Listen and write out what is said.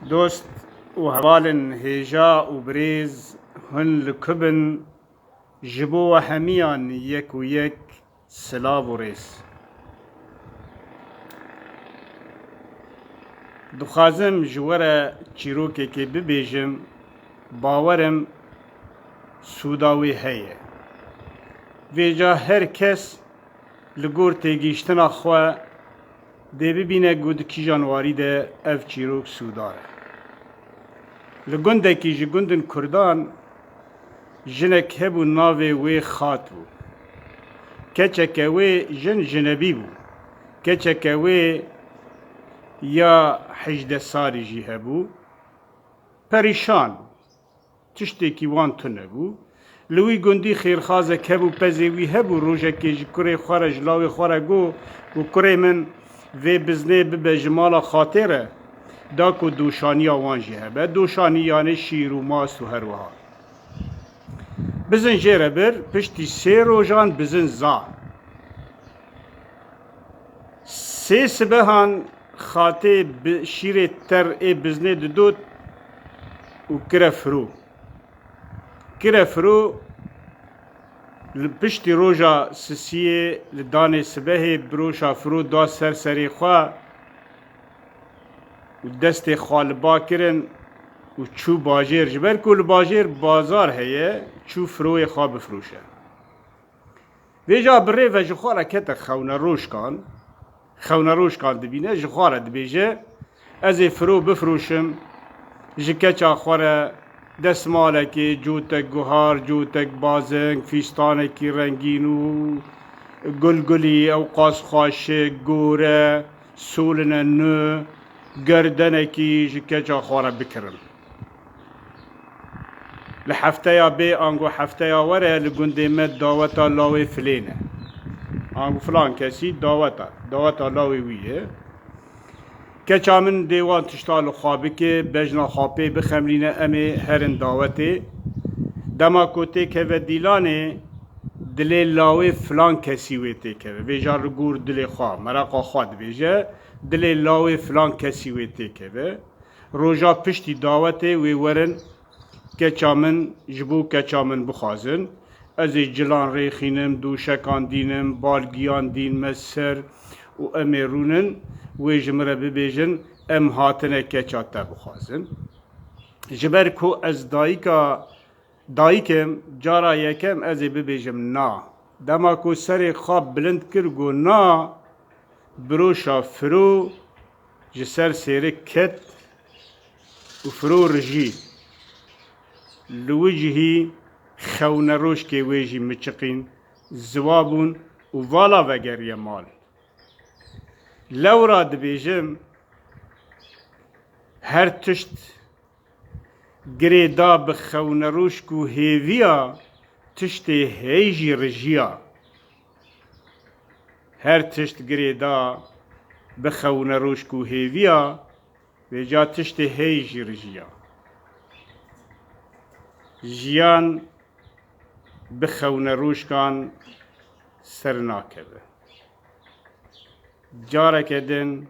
Dost û hevalên hêja û birêz, hûn li ku bin, ji bo we hemiyan yek û yek silav û rêz. Dixwazim ji we re çîrokekê bibêjim, bawer im sûda wê heye. Vêca her kes li gor têgihiştina xwe, Dê bibîne ku di kîjan warî de ev çîrok sûdar e. Li gundekî ji gundên kurdan jinek hebû navê wê Xat bû. Keçeke wê jin jinebî bû. Keçeke wê ya hejdeh salî jî hebû. Perîşan bû. Tiştekî wan tune bû. Li wî gundî xêrxazek hebû, pezê wî hebû. Rojekê ji kurê xwe re, ji lawê xwe re got ku kurê min vê biznê bibe ji mala xatê re. Da ku doşaniya wan jî hebe. Doşanî yanê şîr û mas û her wiha. Bizin jê re bir, piştî sê rojan bizin za. Sê sibehan xatê bi şîrê ter ê biznê didot û kire firo. Kire firo li piştî roja sisiyê li danê sibehê biroşa firo da ser serê xwe û destê xwe li ba kirin û çû bajêr ji ber ku li bajêr bazar heye çû firoyê xwe bifiroşe. Vêca bi rê ve ji xwe re kete xewnerojkan, xewnerojkan dibîne, ji xwe re dibêje, Ez ê firo bifroşim, ji keça xwe re desmalekê, cotek guhar, cotek bazeng, fîstanekî rengîn û gulgulî, ewqas xwaşik, gore, soline nû, gerdenekî ji keça xwe re bikirim. Li hefteya bê ango hefteya were li gundê me daweta lawê filên e. Ango filan kesî daweta, daweta lawê wî ye. Keça min dê wan tişta li xwe bike, bejna xwe pê bixemlîne em ê herin dawetê. Dema ku tê keve dîlanê, dilê lawê filan kesî wê tê keve. Vê jar li gor dilê xwe, mereqa xwe dibêje, dilê lawê filan kesî wê tê keve. Roja piştî dawetê wê werin keça min ji bo keça min bixwazin. Ez ê cilan rêxînim, doşekan dînim, bal giyan dîn me ser û em ê rûnin wê ji min re bibêjin em hatine keça te bixwazin. Ji ber ku ez dayika Dayikim, cara yekem ez ê bibêjim na. Dema ku serê xwe bilind kir got na, biroşa firo ji ser sêrik ket û firo rijî. Li wi cihî xewneroşkê wê jî miçiqîn, ziwa bûn û vala vegeriye mal. Lewra dibêjim her tişt. Girê da bi xewnrûşk û hêviya tiştê hey jî rijiya. Her tişt girê da bi xewnrûşk û hêviya vêca tiştê hey jî rijiya. Jiyan bi xewnrûşkan ser nakeve. Careke din